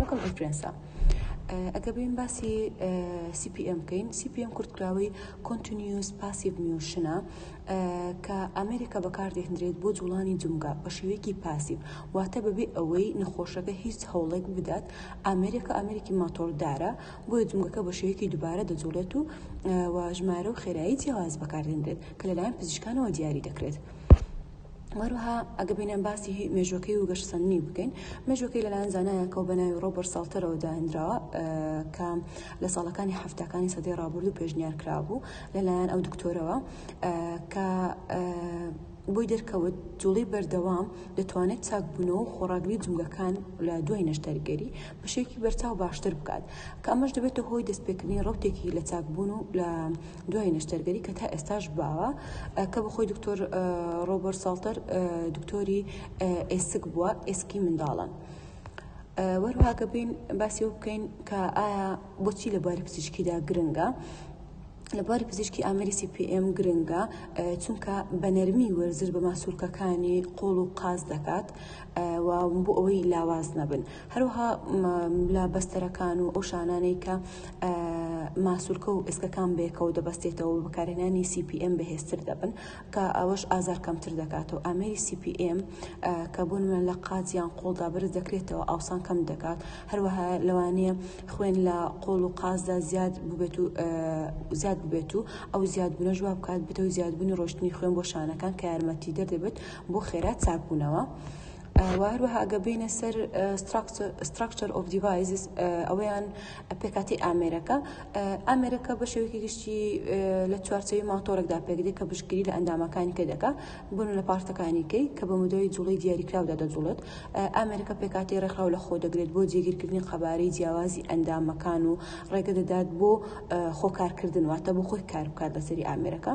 وەکم ئینفلێنسا ئەگە بین باسی CPM بکەین CPM کورتکراوەی Continuous Passive Motion کە ئەمریکا بەکاردێنرێت بۆ جوڵانی جمگا بە شێوەیەکی پاسیو واتە بەبێ ئەوەی نەخۆشەکە هیچ هەوڵێک بدات ئەمریکا ئەمریکی ماتۆردارە بۆیە جمگەکە بە شێوەیەکی دووبارە دەجوڵێت و واژمارە و خێرایی جیاواز بەکاردێنرێت کە لەلایەن پزیشکانەوە دیاری دەکرێت. وەروها ئەگە بینێن باسی مێژوەکەی و گەشتسەندنی بکەین مێژوەکەی لەلایەن زانایەکە و بەناوی ڕۆبەر ساڵتەرەوە داهێنراوە کە لە ساڵەکانی هەفتەکانی سەدەی ڕابرد و پێشنیار کرابوو لەلایەن ئەو دکتۆرەوە کە بۆی دەرکەوت جوڵی بەردەوام دەتوانێت چاکبوونەوە و خۆڕاگری جوولەکان لە دوای نەشتەرگەری بەشێکی بەرچاو باشتر بکات کە ئەمەش دەبێتە هۆی دەستپێکردنی ڕوتێکی لە چاکبوون و لە دوای نەشتەرگەری کە تا ئێستاش باوە کە بە خۆی دکتۆر ڕۆبەر ساڵتەر دکتۆری ئێسک بووە ئێسکی منداڵان. وەروهاکە بین باسی و بکەین کە ئایا بۆچی لە باری پزیشکیدا گرنگە لە باری پزیشکی ئامری CPM گرنگە چونکە بە نەرمی وەرزش بە ماسوولکەکانی قۆڵ و قاز دەکات و بۆ ئەوەی لاواز نەبن هەروەها لە بەستەرەکان و ئەو شانانەی کە ماسولکە و ئێسکەکان بەیەکەوە دەبەستێتەوە و بەکارهێنانی CPM بەهێزتر دەبن کە ئەوەش ئازار کەمتر دەکاتەوە ئامێری CPM کە بوون من لە قاز یان قۆڵدا بەرز دەکرێتەوە ئاوسان کەم دەکات هەروەها لەوانەیە خوێن لە قۆڵ و قازدا زیاد ببێت و زیاد ببێت و ئەو زیاد بنە جواب بکات بتەوە زیادبوونی ڕۆشتنی خوێن بۆ شانەکان کە یارمەتی دەردەبێت بۆ خێرا چاکبوونەوە. و هەروەها ئەگە بینە سەر ستراکچەر ئۆف دیڤایزز ئەوەیان پێکاتی ئامێرەکە ئامێرەکە بە شێوەیەکی گشتی لە چوارچەوی ماتۆرەکدا پێکدێک کە بشکری لە ئەندامەکانی کە دەکە بوون لە پارتەکانیکەی کە بە مدەوەی جوڵی دیاریکراودا دەجوڵێت ئامێرەکە پێکاتی ڕێکخراو لە خۆ دەگرێت بۆ جێگیرکردنی قەبارەی جیاوازی ئەندامەکان و ڕێگە دەدات بۆ خۆکارکردن واتە بۆ خۆی کار بکات لەسەری ئامێرەکە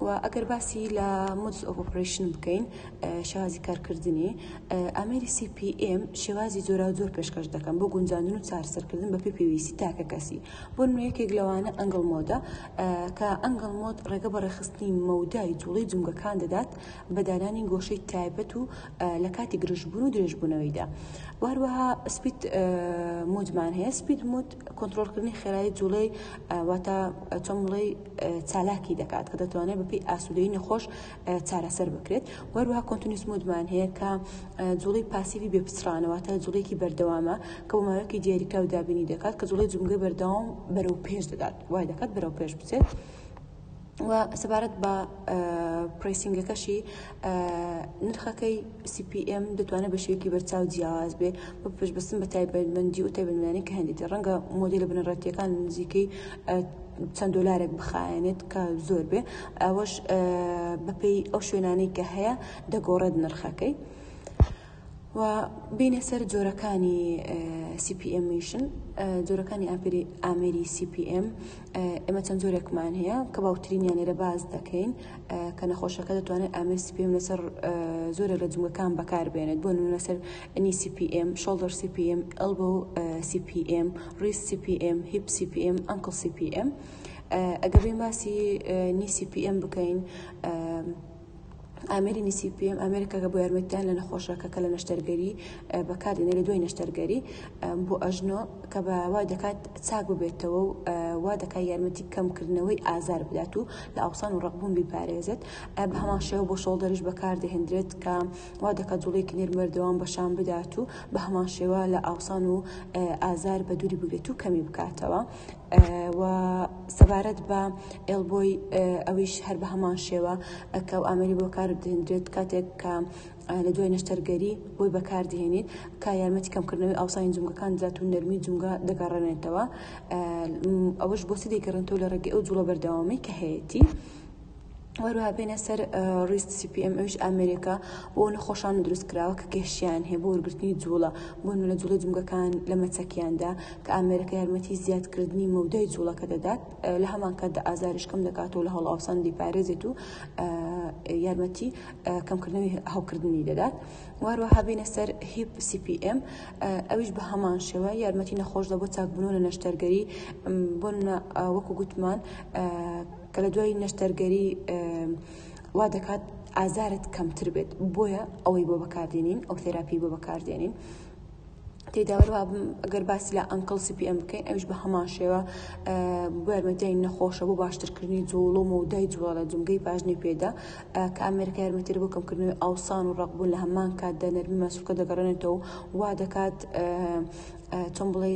و ئەگەر باسی لە مودس ئۆف ئۆپرەیشن بکەین شێوازی کارکردنی ئامێری CPM شێوازی جۆرا و جۆر پێشکەش دەکەن بۆ گونجاندن و چارەسەرکردن بە پێ پێویستی تاکە کەسی بۆ نوێیەکێک لەوانە ئەنگڵ مۆدە کە ئەنگڵ مۆد ڕێگە بە ڕێخستنی مەودای جوڵی جومگەکان دەدات بە دانانی گۆشەی تایبەت و لە کاتی گرژبوون و درێژبوونەوەیدا واروەها سپیت مودمان هەیە سپیت مود کۆنترۆڵکردنی خێرایی جوڵەی واتە چەمڵەی چالاکی دەکات کە دەتوانێت بەپی ئاسوودەی نەخۆش چارەسەر بکرێت وەروها کۆنتنیس مودمان هەیە کە جوڵی پاسیوی بێ پچڕانەوەتە جوڵێکی بەردەوامە کە وماوەکی دیاریکراو دابینی دەکات کە جوڵی جمگە بەردەوام بەرەو پێش دەدات وای دەکات بەرەو پێش بچێت. و سەبارەت بە پرسینگەکەشی نرخەکەی CPM دەتوانێت بە شێوەیەکی بەرچاو جیاواز بێ بە پشبستن بە تایبەتمەندی و تایبەتمەندانی کە هەندێتی ڕەنگە مۆدیل بنەڕەتیەکان نزیکەی چەند دلارێک بخایەنێت کە زۆر بێ ئەوەش بەپێی ئەو شوێنانەی کە هەیە دەگۆڕێت نرخەکەی. و بێینە سەر جۆرەکانی سی پی ئێم میشن جۆرەکانی ئاپری ئامێری سی پی ئێم ئێمە چەند جۆرێکمان هەیە کە باوترینیان لێرە باز دەکەین کە نەخۆشەکە دەتوانێت ئامر سی پی ئێم لەسەر زۆرە لە جومەکان بەکار بێنێت بۆ نمونە لەسەر نی سی پی ئێم شۆڵدەر سی پی ئێم ئەلبۆ سی پی ئێم ڕیس سی پی ئێم هیپ سی پی ئێم ئەنکڵ سی پی ئێم ئەگەر بێ باسی نی سی پی ئێم بکەین ئامێری نیسیپیەم ئامێرێکە کە بۆ یارمەتیدان لە نەخۆشەکە کە لە نەشتەرگەری بەکاردێنێ لە دوای نەشتەرگەری بۆ ئەژنۆ کە بە وای دەکات چاک ببێتەوە و وا دەکات یارمەتی کەمکردنەوەی ئازار بدات و لە ئاوسان و ڕقبوون بیپارێزێت بە هەمان شێوە بۆ شۆڵدەریش بەکاردەهێندرێت کە وا دەکات جوڵێکی نێرمەردەوام بەشان بدات و بە هەمان شێوە لە ئاوسان و ئازار بە دووری بگرێت و کەمی بکاتەوە و سەبارەت بە ئێڵبۆی ئەویش هەر بەهەمان شێوە ئەکا و ئامێری بۆ کار دێندرێت کاتێک کە لە دوای نەشتەرگەری بۆی بەکاردهێنیت کا یارمەتی کەمکردنەوەی ئاوسانی جومگەکان دەدات و نەرمی جومگە دەگەڕێنێتەوە ئەوەش بۆ چ دەگەڕێنەوە لە ڕێگەی ئەو جوڵە بەردەوامی کە هەیەتی. هەروەها بێنە سەر ڕیست CPM ئەوش ئامێرێکە بۆ نەخۆشان دروست کراوە کە گەشیان هەیە بۆ وەرگرتنی جوڵە بۆن لە جوڵە جمگەکان لە مەچەکیاندا کە ئامێرەکە یارمەتی زیادکردنی مەودای جوڵەکە دەدات لە هەمان کاتدا ئازاریش کەم دەکات و لە هەڵاوسان دیپارێزێت و یارمەتی کەمکردنەوەی هەوکردنی دەدات وارۆ هەبینە سەر هیپ CPM ئەویش بە هەمان شێوە یارمەتی نەخۆش دە بۆ چاکبوون لە نەشتەرگەری بۆن وەکو گوتمان کە لە دوای نەشتەرگەری وا دەکات ئازارت کەمتر بێت بۆیە ئەوەی بۆ بەکاردێنین ئەو تێراپی بۆ بەکاردێنین تێداوەروا ئەگەر باسی لە ئەنکڵ سپی ئەم بکەین ئەوش بە هەمان شێوە بەرمەدەین نەخۆشە بۆ باشترکردنی جوڵۆ مەودای جوڵە جمگەی پاژنی پێدا کە ئەمریکا یارمەتر بۆ کەمکردنەوەی ئاوسان و ڕقبوون لە هەمان کاتدا نەرمی مەسوولکە دەگەڕێنێتەوە وا دەکات چۆن بڵێ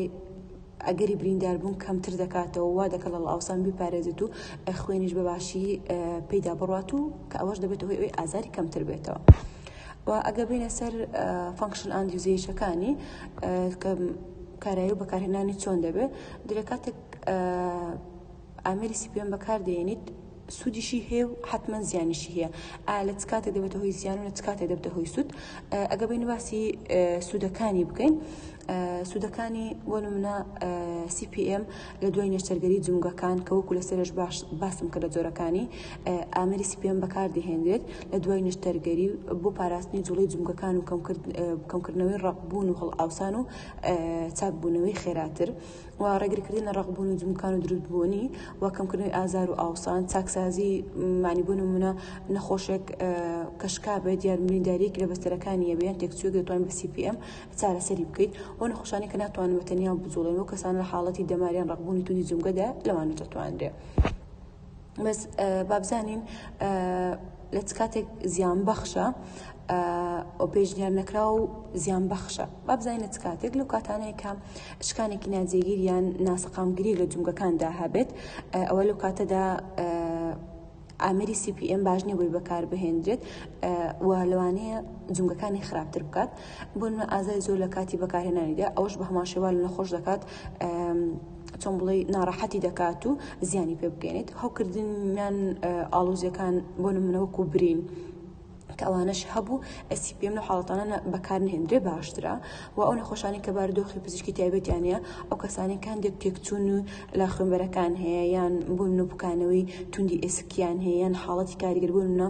ئەگەری برینداربوون کەمتر دەکاتەوە وا دەکات لە ڵاوسان بیپارێزێت و خوێنیش بەباشی پێیدا بڕوات و کە ئەوەش دەبێت هۆی ئەوی ئازاری کەمتر بێتەوە. و ئەگە بینە سەر فانکشن ئاند یوزیشەکانی کە کارایی و بەکارهێنانی چۆن دەبێت درێ کاتێک ئامێری سیپیۆن بەکار دەهێنیت سوودیشی هەیە و حتمما زیانیشی هەیە ئا لە چ کاتێک دەبێتە هۆی زیان و لە چ کاتێک دەبتە هۆی سوود ئەگە بین باسی سوودەکانی بکەین سوودەکانی بۆ نمونە CPM لە دوای نێشتەرگەری جومگەکان کە وەکو لە سەرش باش باسم کە لە جۆرەکانی ئامری CPM بەکار دەهێنرێت لە دوای نێشتەرگەری بۆ پاراستنی جوڵی جومگەکان و کەمکردنەوەی ڕقبوون و هەڵ ئاوسان و چاکبوونەوەی خێراتر. و ڕێگریکردن لە ڕەقبوون و جموکان و دروستبوونی و کەمکردنەوەی ئازار و ئاوسان چاکسازی مانی بۆ نمونە نەخۆشێک کەشکا بێت یان برینداریەکی لە بەستەرەکانی یەبێن تێکچوێک دەتوان بە CPM چارەسەری بکەیت و نەخۆشانی کە ناتوانن بە تەنیا بجوڵێن و کەسان لە حاڵەتی دەماریان ڕەقبوونی توندی جومگەدا لەوانە دەتوانرێت بەس بابزانین لە چ کاتێک زیان بەخشە ئۆ پێشنیار نەکرا و زیان بەخشە بابزانین لە چ کاتێک لەو کاتانەیە کە شکانێکی ناجێگیر یان ناسەقامگیری لە جومگەکاندا هەبێت ئەوە لەو کاتەدا ئامری CPM باش نیە بۆی بەکار بهێنرێت و لەوانەیە جونگەکانی خراپتر بکات بۆنمە ئازای زۆر لە کاتی بەکارهێنانیدا ئەوش بە هەماشێوال نەخۆش دەکات چۆن بڵێی ناڕەحەتی دەکات و زیانی پێ بگەێنێت هەوکردنیان ئاڵوزیەکان بۆ نمونەوەک و برین کەوانش هەبوو ئەسی پێم لە حاڵەتانە بەکار نهێنرێ باشترە و ئەو نەخۆشانی کە بارودۆخی پزیشکی تایبەتیانە ئەو کەسانی کاندێک تێکچون و لە خوێنبەرەکان هەیە یان بوون و بکانەوەی توندی ئێسکیان هەیە یان حاڵەتی کاریگەربوونە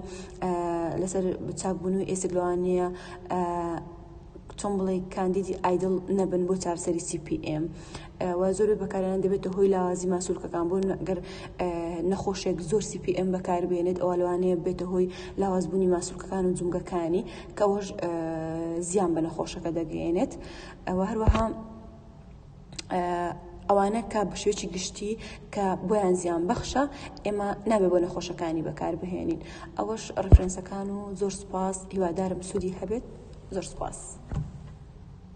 لەسەر بچاکبوون و ئێسک لەوانەیە چۆن بڵێ کاندیدی ئایدڵ نەبن بۆ چارسەری CPM و زۆر بەکارێنان دەبێتە هۆی لاوازی ماسولکەکان بۆ گەر نەخۆشێک زۆر CPM بەکاربێنێت ئەو لەوانەیە بێتە هۆی لاوازبوونی ماسولکەکان و جومگەکانی کەەوەش زیان بە نەخۆشەکە دەگەێنێت ئەوە هەروەها ئەوانە کە بەشێوەیەکی گشتی کە بۆیان زیان بەخشە ئێمە نابێ بۆ نەخۆشەکانی بەکاربهێنین ئەوەش ڕفرەنسەکان و زۆر سپاس هیوادارم سوودی هەبێت زۆر سپاس.